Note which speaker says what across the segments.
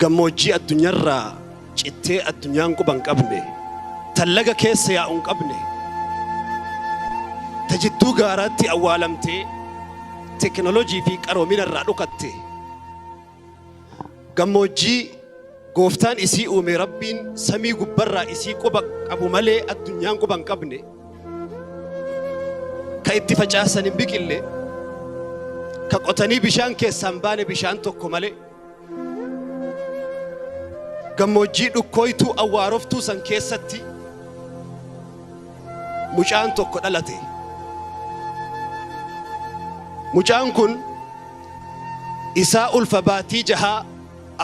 Speaker 1: Gammoojjii addunyarraa cittee addunyaan quba hin qabne, tan laga keessa yaa'u hin qabne, ta jidduu gaaraatti awwaalamtee teknolojii fi qaroomina irraa dhukatte, gammoojjii gooftaan isii uume rabbiin samii gubbarraa isii quba qabu malee addunyaan quba hin qabne, ka itti facaasan hin biqille, ka qotanii bishaan keessaa hin baane bishaan tokko malee. gammoojjii dhukkooytuu awwaaroftuu san keessatti mucaan tokko dhalate mucaan kun isaa ulfa baatii jahaa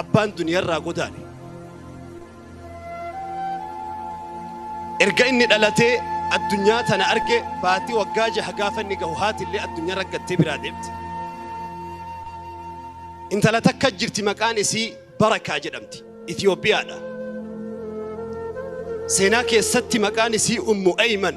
Speaker 1: abbaan duniyarraa godaane Erga inni dhalatee addunyaa tana arge baatii waggaa jaha gaafa inni gahu haatillee addunyaa raggattee biraa deemte. Intala takka jirti maqaan isii Barakaa jedhamti. Itoophiyaadha. Seenaa keessatti maqaan isii Ummu Ayman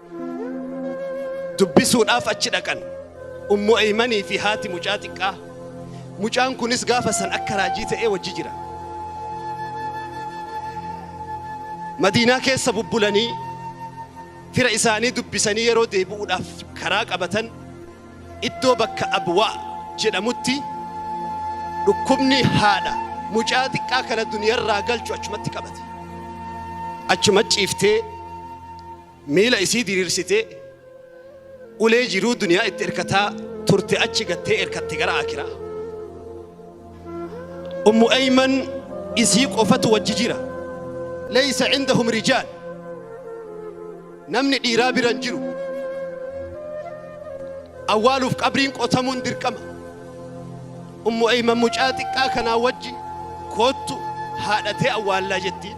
Speaker 1: dubbisuudhaaf achi dhaqan ummu aymanii fi haati mucaa xiqqaa mucaan kunis gaafa san akka raajii ta'ee wajji jira madiinaa keessa bubbulanii fira isaanii dubbisanii yeroo deebi'uudhaaf karaa qabatan iddoo bakka abwaa jedhamutti dhukkubni haadha mucaa xiqqaa kana duniyarraa galchu achumatti qabate achuma ciiftee Miila isii diriirsitee ulee jiruu duniyaa itti erkataa turte achi gattee erkatte gara akiraa. Ummu Ayman isii qofatu wajji jira. Leeysa indahum rijaal. Namni dhiiraa bira hin jiru. Awwaaluuf qabriin qotamuun dirqama. Ummu Ayman mucaa xiqqaa kanaa wajji koottu haadhatee awwaallaa jettiin.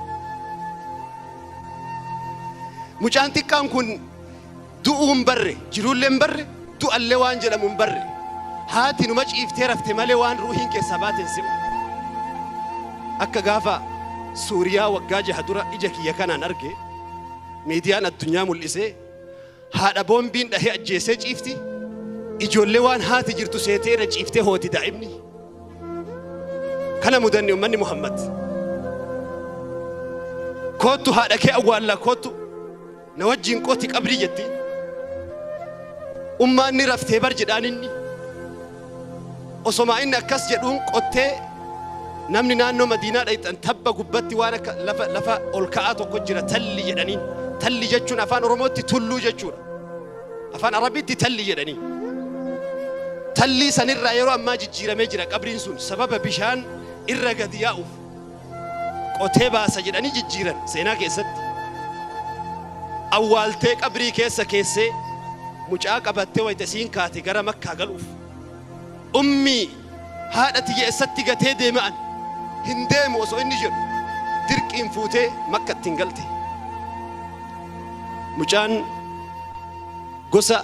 Speaker 1: Mucaan xiqqaan kun du'uu hin barre, jiruullee hin barre, du'allee waan jedhamu hin barre. Haati numa ciiftee rafte malee waan ruuhiin keessaa baate hin simu. Akka gaafa Suuriyaa waggaa jaha dura ija kiyya kanaan arge miidiyaan addunyaa mul'isee Haadha boombiin dhahee ajjeesee ciifti. Ijoollee waan haati jirtu seetee irra ciiftee hooti daa'imni. Kana mudanne ummanni Muhammad. Koottu haadha kee awwaallaa koottu na wajjin qoti qabrii jetti. Ummaan ni raftee bar jedhaan inni. Osomaa inni akkas jedhuun qottee namni naannoo Madiinaa dhayxan tabba gubbatti waan akka lafa lafa ol ka'aa tokko jira talli jedhaniin. Talli jechuun afaan Oromootti tulluu jechuudha. Afaan Arabiitti talli jedhanii. Tallii sanirraa yeroo ammaa jijjiiramee jira qabriin sun sababa bishaan irra gadi yaa'uuf. qotee baasa jedhanii jijjiiran seenaa keessatti awwaaltee qabrii keessa keessee mucaa qabattee wayita isiin kaate gara makkaa galuuf ummii haadha tiyya eessatti gatee deema'an hin deemu osoo inni jedhu dirqiin fuutee makka ittiin galte mucaan gosa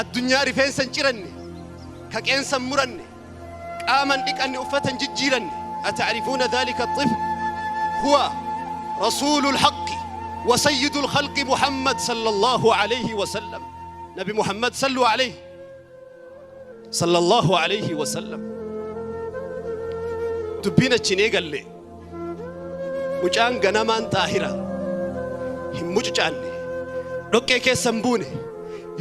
Speaker 1: Addunyaa rifeensa hin ciranne, ka qeensa hin muranne, qaama hin dhiqanne, uffata hin jijjiiranne. Ata'rifuuna dhaalika alxifl? Huwa Rasuulu alhaqqi wa sayyidu alkhalqi Muhammad sallallahu alayhi wa sallam. Nabi Muhammad sallu alayhi. Sallallahu alayhi wa sallam. Dubbiin achi hin eegalle. Mucaan ganamaan xaahira. Hin mucucaanne. Dhoqqee keessa hin buune.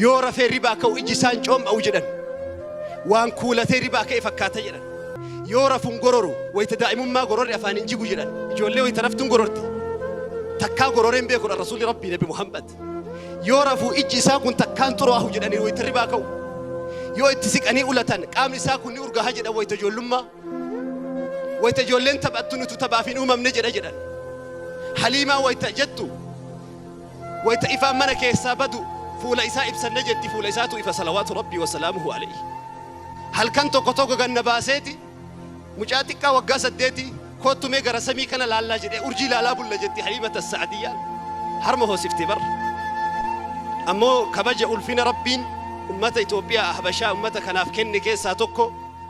Speaker 1: Yoo rafee ribaa ka'u iji isaa hin coom'a'u jedhan. Waan kuulatee ribaa ka'e fakkaata jedhan. Yoo rafu hin gororu. Wayita daa'imummaa gororri afaan hin jigu jedhan. Ijoollee wayita raftu hin gororti. Takkaa gororee hin beeku dha Rasuulli Rabbii Nabi Muhammad. Yoo rafu ijji isaa kun takkaan xuraahu jedhanii wayita ribaa ka'u. Yoo itti siqanii ulatan qaamni isaa kun ni urgaaha jedhan wayita ijoollummaa. Wayita ijoolleen taphattu nutu taphaaf hin uumamne jedha jedhan. Haliimaa wayita jettu wayita ifaan mana keessaa badu fuula isaa ibsanne jetti fuula isaatu ifa salawaatu rabbii wasalaamuhu alayhi. Halkan tokko tokko ganna baaseeti mucaa xiqqaa waggaa saddeeti koottu mee gara samii kana laallaa jedhee urjii laalaa bulla jetti haliimata sa'adiyyaan harma hoosifte barra. Ammoo kabaja ulfina rabbiin ummata Itoophiyaa habashaa ummata kanaaf kenne keessaa tokko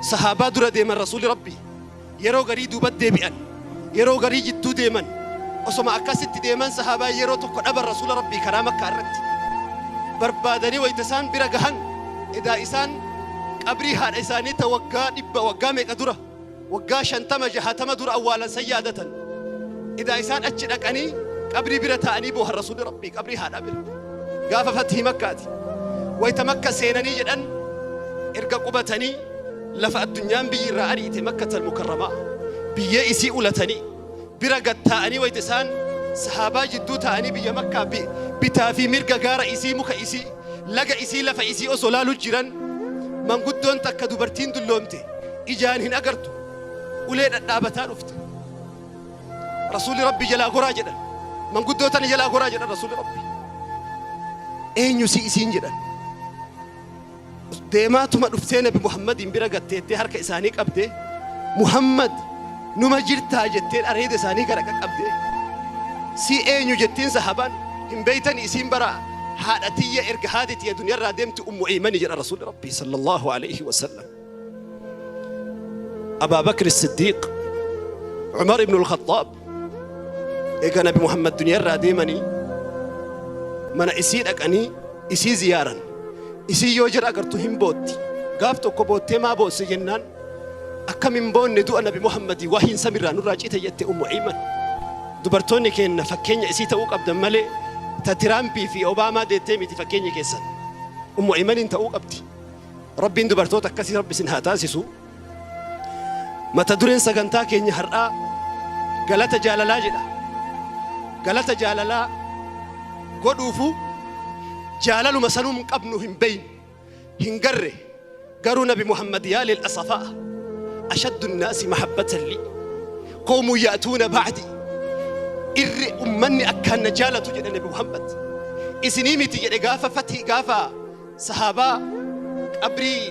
Speaker 1: Sahaabaa dura deeman Rasuulli Rabbii. Yeroo garii duubat deebi'an. Yeroo garii jidduu deeman. Osoma akkasitti deeman sahaabaan yeroo tokko dhaban Rasuula Rabbii karaa Makkaa irratti. Barbaadanii wayta isaan bira gahan edaa isaan qabrii haadha isaanii ta waggaa dhibba waggaa meeqa dura Waggaa 50, 60 dura awwaalan san yaadatan. Edaa isaan achi dhaqanii qabrii bira taa'anii boohan Rasuulli Rabbii qabrii haadhaa bira. Gaafa Fathii Makkaati. Wayta Makka seenanii jedhan erga qubatanii lafa addunyaan biyyi irraa ari'ite Makkatal Mukarramaa biyyee isii ulatanii bira gad taa'anii wayta isaan sahaabaa jidduu taa'anii biyya makkaa bi- bitaa fi mirga gaara isii muka isii laga isii lafa isii osoo laalu jiran manguddoon takka dubartiin dulloomte ijaan hin agartu ulee dhadhaabataa dhufte rasuulli rabbi jalaa goraa jedhan manguddoo tana jalaa goraa jedhan rasuulli rabbi eenyu si isiin jedhan Deemaatuma dhuftee Nabi Muhammadiin bira gatteettee harka isaanii qabdee Muhammad numa jirtaa jetteen areeda isaanii gara qaqqabdee si eenyu jetteen sahabaan hin beeytani isiin bara haadha tiyya erga haati tiyya duniyarraa deemti ummu eeymani jedha rasuulli rabbii sallallahu alayhi wasallam abaa bakri siddiiq umar ibnu alkhaxaab eega nabi muhammad duniyaa irraa deemanii mana isii dhaqanii isii ziyaaran isii yoo jira agartu hin bootti gaaf tokko boottee maa boosse jennaan akkam hin boonne du'a nabi muhammadii waa hin samirraa nurraa cite jette ummu ayman dubartoonni keenna fakkeenya isii ta'uu qabdan malee ta tiraampii fi obaamaa deettee miti fakkeenya keessan ummu aymaniin ta'uu qabdi rabbiin dubartoota akkasii rabbi isin haa taasisu Mata dureen sagantaa keenya har'aa galata jaalalaa jedha. Galata jaalalaa godhuufu jaalaluma sanum qabnu hin beeynu hin garre garuu nabi Muhammad yaa lil asafaa ashaddu naasi mahabbatan lii qoomu yaatuuna ba'di irri ummanni akkaan na jaalatu jedha nabi Muhammad isinii miti jedhe gaafa fatii gaafa Sahaabaa qabrii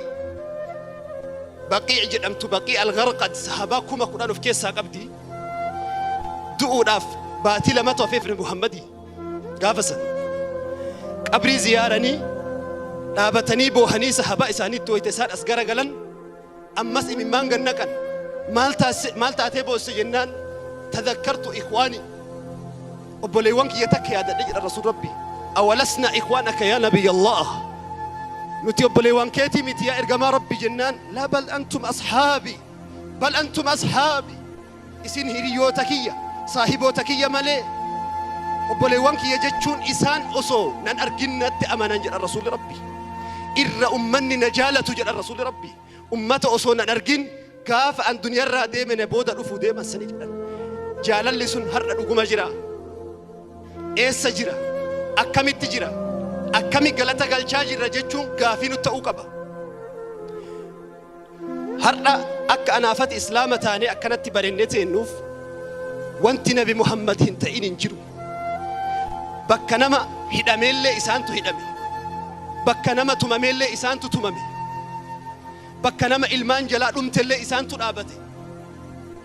Speaker 1: Baqii' jedhamtu Baqii Al-Gharqad sahaabaa kuma kudhan of keessaa qabdi. Du'uudhaaf baatii lamatu hafeef Nabi Muhammadi gaafa san. Qabrii ziyaaranii dhaabatanii boohanii sahaabaa isaaniitti wayita isaan as garagalan Ammas imimmaan gad naqan. Maal taasise- maal taatee boosse jennaan tadakkartu ikwaani. Obboleewwan kiyya takka yaadadhe jedha Rasuul Rabbi. Awalasna ikwaan akka yaa Nabiyya Allah. Nuti obboleewwan keetii miti yaa ergamaa Rabbi jennaan laa bal antum ashaabi. Bal antum ashaabi. Isin hiriyoota kiyya, saahiboota kiyya malee obboleewwan kiyya jechuun isaan osoo nan argin natti amanan jedhan Rasuulli Rabbi. Irra ummanni na jaalatu jedhan Rasuulli Rabbi. Ummata osoo nan argin gaafa an duniyarraa deeme na booda dhufu deeman sani jedhan. Jaalalli sun har'a dhuguma jira. Eessa jira? Akkamitti jira? Akkami galata galchaa jirra jechuun gaafii nu ta'uu qaba. Har'a akka anaafati islaama taanee akkanatti barennee teennuuf wanti nabi Muhammad hin ta'in hin jiru. Bakka nama hidhameellee isaantu hidhame. Bakka nama tumameellee isaantu tumame. Bakka nama ilmaan jalaa dhumtellee isaantu dhaabate.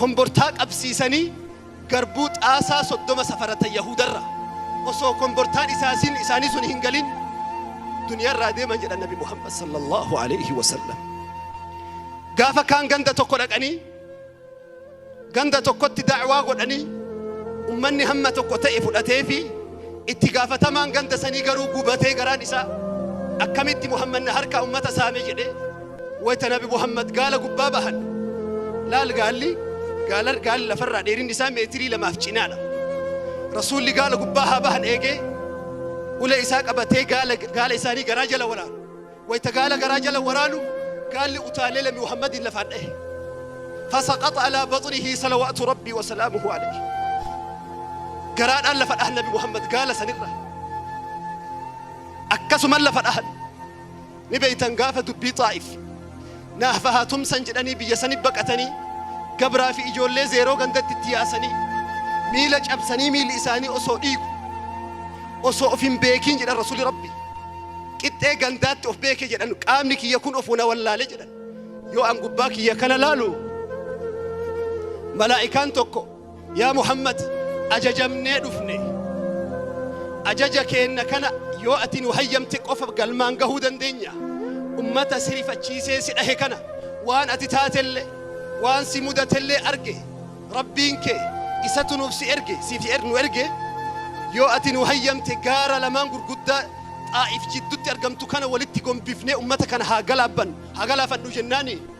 Speaker 1: Kombortaa qabsiisanii garbuu xaasaa 30 safaratan Yahuudarra. Osoo kombortaan isaasin isaanii sun hin galin duniyarraa deeman jedhan Nabi Muhammad sallallahu alayhi wa sallam. Gaafa kaan ganda tokko dhaqanii ganda tokkotti da'waa godhanii ummanni hamma tokko ta'e fudhatee fi Itti gaafatamaan ganda sanii garuu gubatee garaan isaa akkamitti Muhammad na harkaa ummata saame jedhee wayta nabi Muhammad gaala gubbaa bahan laal gaalli gaalar gaalli lafarraa dheerinni isaa meetirii lamaaf cinaadha. Rasuulli gaala gubbaa haa bahan eegee ulee isaa qabatee gaala gaala isaanii garaa jala waraana. Wayta gaala garaa jala waraanu gaalli utaalee Labi Muhammadiin lafaan dhahe. Fasaqaxa alaa baxnihi salawaatu Rabbii wa salaamuhu alayhi. Garaadhaan lafa dhahan Nabi Muhammad gaala sanirra. Akkasuman lafa dhahan. Ni beeytan gaafa dubbii xaa'if. Naafahaa tumsan jedhanii biyya sani baqatanii gabraa fi ijoollee zeeroo gandatti itti yaasanii miila cabsanii miilli isaanii osoo dhiigu osoo of hin beekiin jedhan rasuli rabbi qixxee gandaatti of beeke jedhan qaamni kiyya kun of na wallaale jedhan yoo an gubbaa kiyya kana laalu malaa'ikaan tokko Yaa Muhammad ajajamnee dhufne ajaja keenna kana yoo ati nu hayyamte qofa galmaan gahuu dandeenya ummata si rifachiisee si dhahe kana waan ati taatelle waan si mudatellee arge rabbiin kee isatu nuuf si erge siif er- nu erge yoo ati nu hayyamte gaara lamaan gurguddaa xaa'if jiddutti argamtu kana walitti gombifnee ummata kana haa galaabban haa galaafannu jennaani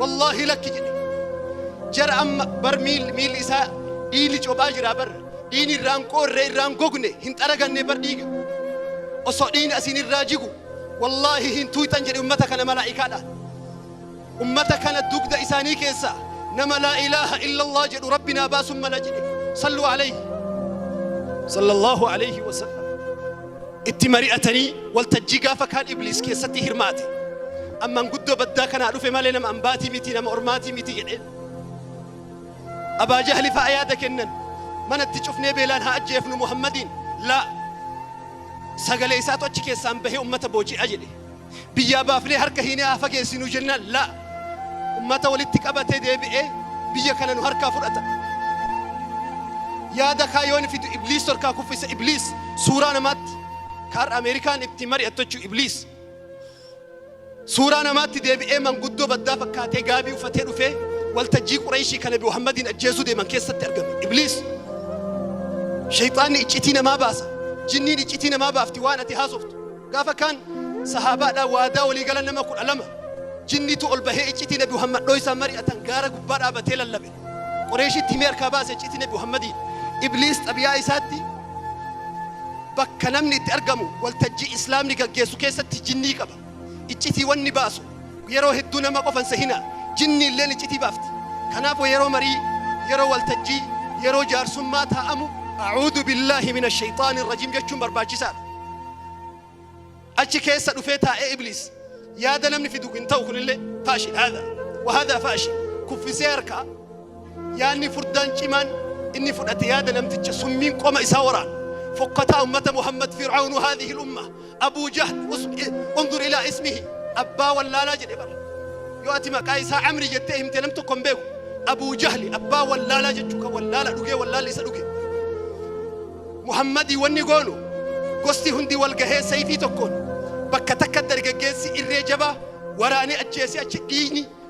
Speaker 1: Wallaahi lakki jedhe. Jara amma bar miil miilli isaa dhiigni cophaa jira bar dhiigni irraan qoorree irraan gogne hin xaraganne bar dhiiga. Osoo dhiigni asiin irraa jigu wallaahi hin tuuytan jedhe ummata kana malaa'ikaadhaan. Ummata kana dugda isaanii keessaa nama laa ilaaha illallah jedhu rabbi naa baasuun mala jedhe. Salluu alayhi. Sallallahu alayhi wa sallam. itti mari'atanii waltajjii gaafa kaan ibliis keessatti hirmaate amman guddoo baddaa kanaa dhufe malee nama ambaatii miti nama ormaatii miti jedheen abaa jahli fa'a yaada kennan manatti cufnee beelaan haa ajjeefnu muhammadiin laa sagalee isaatu achi keessaan bahee ummata booji'a jedhe Biyyaa baafnee harka hiinee haa fageessinuu jennaan laa ummata walitti qabatee deebi'ee biyya kana nu harkaa fudhata. Yaada kaa yoon fidu ibliis torkaa kuffisa ibliis suuraa namaatti kaarra Ameerikaan itti mari'attochuu ibliis. Suuraa namaatti deebi'ee manguddoo baddaa fakkaatee gaabii uffatee dhufee waltajjii Qureeshii kana Muhammadiin ajjeesuu deeman keessatti argame ibliis. Shayxaanni iccitii namaa baasa. Jinniin iccitii namaa baafti waan ati haasoftu. Gaafa kaan sahaabaadhaan waadaa walii galan nama kudha lama jinniitu ol bahee iccitii nabi Muhammadoo isaan mari'atan gaara gubbaa dhaabatee lallabe. Qoreeshitti himee harkaa baase iccitii nabi Muhammadiin. Ibliis xabiyaa isaatti bakka namni itti argamu waltajjii islaamni gaggeessu keessatti jinnii qaba. Iccitii wanni baasu Yeroo hedduu nama qofa hin sehina. Jinni illeen iccitii baafti. Kanaafu yeroo marii, yeroo waltajjii, yeroo jaarsummaa taa'amu A'uudu billaahi mina sheyxaani rajiim jechuun barbaachisaadha. Achi keessa dhufee taa'ee ibliis yaada namni fidu hin ta'u kunillee faashil haadha wa haadha faashil kuffisee harkaa yaanni furdaan cimaan inni fudhate yaada namticha summiin qoma isaa waraana fokkataa ummata Muhammad Fir'aawnu haadhihi umma Abuu Jahl, unzur ilaa ismihi, abbaa wallaalaa jedhe bar. Yoo ati maqaa isaa Amri jettee himte nam tokko hin beeku. Abuu Jahli abbaa wallaalaa jechuu kan wallaala dhugee wallaalli isa dhuge. Muhammadii wanni goonu gosti hundi wal gahee sayfii tokkoon bakka takka dargaggeessi irree jabaa waraanee ajjeesee achi dhiigni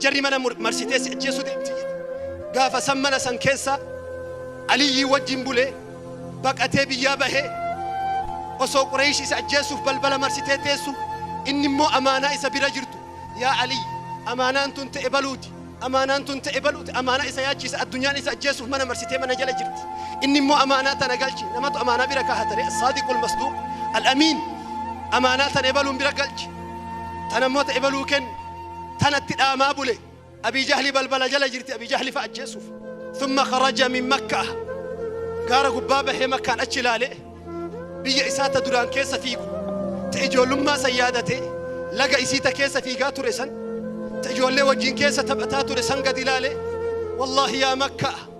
Speaker 1: Jarri mana mur marsitee si ajjeesuu deemti jedhe. Gaafa san mana san keessa Aliyyii wajjin bule baqatee biyyaa bahee osoo Qureesh isa ajjeesuuf balbala marsitee teessu inni immoo amaanaa isa bira jirtu yaa Aliyyi amaanaan tun ta'e baluuti amaanaan tun ta'e baluuti amaanaa isa yaachiisa addunyaan isa ajjeesuuf mana marsitee mana jala jirti inni immoo amaanaa tana galchi namatu amaanaa bira kaahatare saadiqul masduuq al-amiin amaanaa tana ebaluun bira galchi tana immoo ta'e baluu kenni tanatti dhaamaa bule abii jahli balbala jala jirti abii jahli fa ajjeesuuf thumma kharaja min makkaa gaara gubbaa bahee makkaan achi ilaalee biyya isaa ta duraan keessa fiigu ta ijoollummaa san yaadatee laga isii ta keessa fiigaa ture san ta ijoollee wajjin keessa taphataa ture san gad ilaalee wallaahi yaa makkaa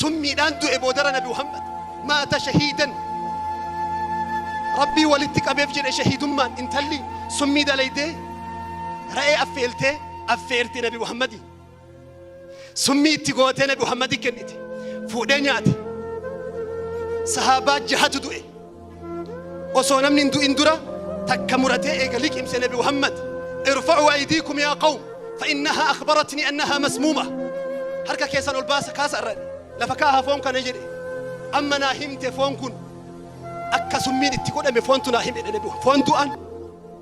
Speaker 1: Summiidhaan du'e boodara nabi Muhammad maata shahiidan Rabbii walitti qabeef jedhe shahiidummaan intalli summii dalaydee ra'ee affeeltee affeerte nabi Muhammadi summii itti gootee nabi Muhammadi kennite fuudhee nyaate sahaabaa jahatu du'e osoo namni hin du'in dura takka muratee eega liqimse nabi muhammad irfa'uu aydiikum yaa qawm fa'innahaa akhbaratni annahaa masmuuma harka keessan ol baasa kaasa irra lafa kaaha foon kana jedhe amma naa himte foon kun akka summiin itti godhame foontu naa hime jedhe nabi foon du'an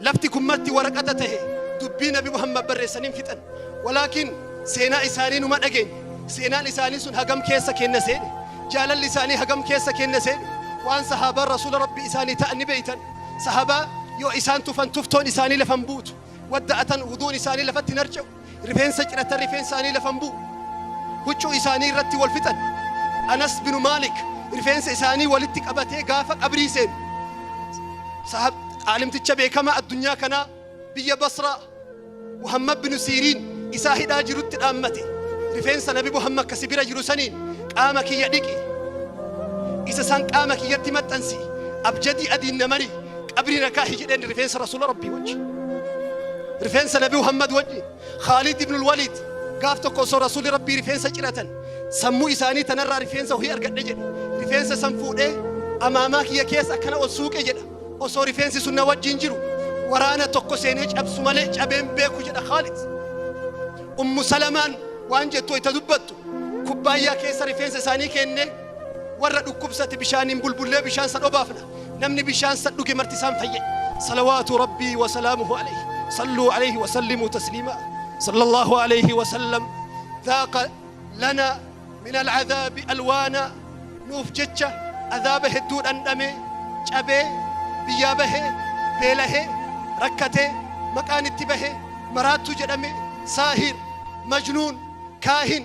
Speaker 1: Lafti kun marti waraqata tahe dubbii nabi Muhammad barreessan hin fixan. Walaakin seenaa isaanii numa dhageenya. Seenaan isaanii sun hagam keessa keenna seene? Jaalalli isaanii hagam keessa keenna seene? Waan sahaabaan Rasuula Rabbii isaanii ta'an ni beeytan. Sahabaa yoo isaan tufan tuftoon isaanii lafa hin buutu. Wadda'atan wuduun isaanii lafatti hin harca'u. Rifeensa ciratan rifeensi isaanii lafa hin bu'u. Huccuu isaanii irratti wal fixan. Anas binu Maalik rifeensa isaanii walitti qabatee gaafa qabrii seenu. Sahab caalimticha beekamaa addunyaa kanaa biyya Basraa Muhammad binu Siiriin isaa hidhaa jirutti dhaammate. Rifeensa Nabi Muhammad kasi bira jiru saniin qaama kiyya dhiqi. Isa san qaama kiyyatti maxxansi. Abjadii adiin na mari. qabrii na kaahi jedheen rifeensa rasuula rabbii wajji rifeensa nabi muhammad wajji khaalid ibnul waliid gaaf tokko osoo rasuuli rabbii rifeensa ciratan sammuu isaanii tanarraa rifeensa hohi argadhe jedhe rifeensa san fuudhee amaamaa kiyya keessa akkana ol suuqe jedha osoo rifeensi sun na wajjin jiru waraana tokko seenee cabsu malee cabeen beeku jedha khaalid ummu salamaan waan jettu itti dubbattu kubbaayyaa keessa rifeensa isaanii kennee Warra dhukkubsate bishaaniin bulbullee bishaan san obaafna. Namni bishaan san dhuge marti isaan fayye. Salawaatu Rabbii wa salaamuhu alayhi. Salluu alayhi wa sallimuu tasliimaa. Sallallahu alayhi wa sallam. Dhaaqa lana min al'adhaabi alwaana. Nuuf jecha adhaaba hedduu dhandhame, cabee, biyyaa bahe, beelahe, rakkate, maqaan itti bahe, maraattuu jedhame, saahir, majnuun, kaahin,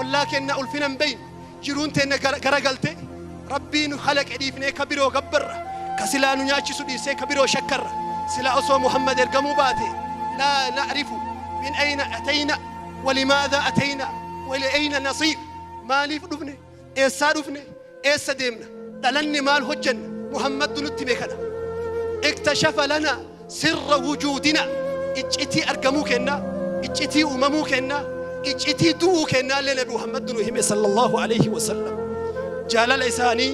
Speaker 1: ollaa kenna ulfina hin beeyne jiruun teenna gara- garagalte rabbii nu halaqe dhiifnee ka biroo gabbarra ka silaa nu nyaachisu dhiisee ka biroo shakkarra silaa osoo muhammad ergamuu baate laa na'rifu min ayna atayna walimaadha atayna waliayna nasiir maaliif dhufne Eessaa dhufne? Eessa deemna? Dhalanne maal hojjenna? Muhammadtu nutti hime kana. Iktashafa lana sirra wujuudina. Iccitii argamuu kennaa, iccitii uumamuu kennaa, iccitii du'uu kennaa illee Nabi Muhammadtu nu hime sallallahu alayhi wa sallam. Jaalala isaanii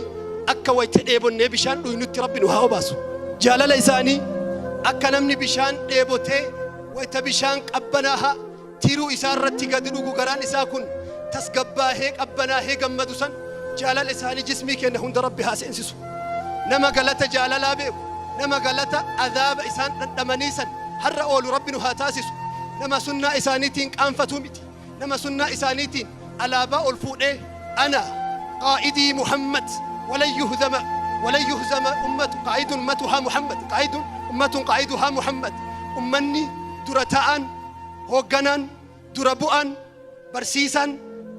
Speaker 1: akka wayita dheebonnee bishaan dhuynutti Rabbi nu haa obaasu. Jaalala isaanii akka namni bishaan dheebotee wayita bishaan qabbanaahaa Tiruu isaa irratti gad dhugu garaan isaa kun tasgabbaahee qabbanaahee gammadu san jaalala isaanii jismii keenna hunda rabbi haa seensisu nama galata jaalalaa beeku nama galata azaaba isaan dhandhamanii san har'a oolu rabbi nu haa taasisu nama sunnaa isaaniitiin qaanfatuu miti nama sunnaa isaaniitiin alaabaa ol fuudhee ana qaa'idii muhammad walan yuhdama walan yuhzama ummatu qaa'idun ummatuhaa muhammad qaa'idun ummatun qaa'iduhaa muhammad ummanni dura ta'aan Hoogganaan, dura bu'aan, barsiisaan,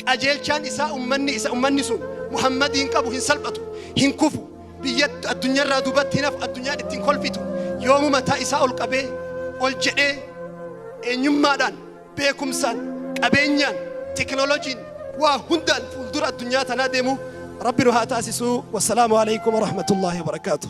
Speaker 1: qajeelchaan isaa ummanni isa ummanni sun Muhammadiin qabu hin salphatu, hin kufu, biyya addunyarraa duubatti hin hafu, addunyaan ittiin kolfitu yoomuu mataa isaa ol qabee, ol jedhee eenyummaadhaan, beekumsaan, qabeenyaan, teknolojiin waa hundaan fuuldura addunyaa tanaa deemu Rabbi nu haa taasisuu. Wassalaamu alaikum warahmatullaahi wabarakaatuh.